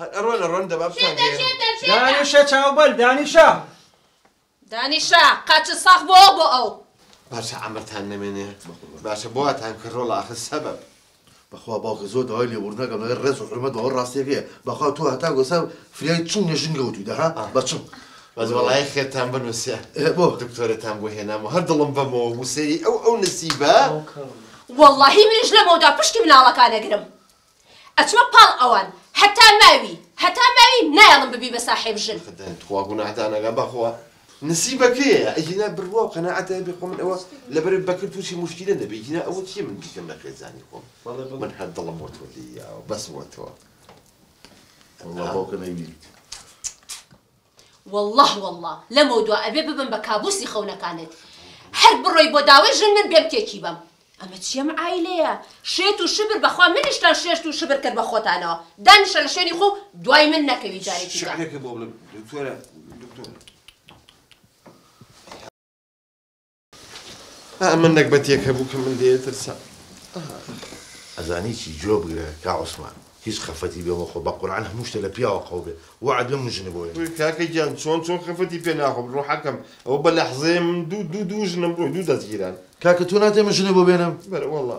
هەر ئەڕۆن ئەڕۆن دەبا بتانگەیەنم. دانیشە چاو بەل دانیشە. دانیشە قاچت ساخ بۆ ئەو بۆ ئەو. باشە عەمرتان نەمێنێ باشە بۆ واتان کە ڕۆڵە ئاخر سەبەب. بەخوا باوکە زۆر داوای لێبووردن ئەکەم لەگەر ڕێز و حورمەت بەوە ڕاستیەکەیە بەخوا تۆ هەتا گۆسا فریای چنگ لە ژنگە وتویدە ها بە چنگ بەس وەڵای خێرتان بنووسێ بۆ دکتۆرەتان بۆ هێنام و هەر دڵم بەمەوە بوو سەیری ئەو ئەو نسیبە وەڵاهی منیش لەمەودا پشتی مناڵەکان ئەگرم. ئەچمە پاڵ ئەوان هەتا ماوی هەتا ماوی نایەڵم ببی بە ساحێب ژن. خدایا توخوا گوناح دانەگا بەخوا نسیبە کێیە ئەگینا بڕوا و قەناعەت هەبێ خۆ من ئەوە لەبەر بەکر تووشی موشکیلە نەبێ ئیگینا ئەوە چیە من بیکەم لە خێزانی خۆم من هەر دڵم بۆ تۆ لێی یاوە بەس بۆ تۆ. واللە باوکە نەیبینیت. واللە واللە لەمەو دوا ئەبێ ببم بە کابوسی خەونەکانت هەر بڕۆی بۆ داوەی ژن من بێم تێکی بەم ئەمە چی ئەم عایلەیە شێت و شبر بەخوا منیشتان شێشت و شبر کرد بە خۆتانەوە دانیشە لە شوێنی خۆو دوای من نەکەوی جارێکی دا. شعرێکە بۆ بڵێ دکتۆرە دکتۆرە. ئا من نەگبەتێک هەبوو کە من لێ ترسام ئەزانی چی جۆ بگرە کا عوسمان هیچ خەفەتی بێ مەخۆ بە قورعان هەموو شتە لە پیاوە قەو بێ وەعد بێ مژنە بۆ وێنە کاکە گیان چۆن چۆن خەفەتی پێ ناخۆم ڕۆحەکەم ئەو بە لەحزەیە من دوو دوو دوو ژنم ڕۆی دوو دەستگیران کاکە تۆ ناتێ مژنە بۆ بێنم بەرە وەڵا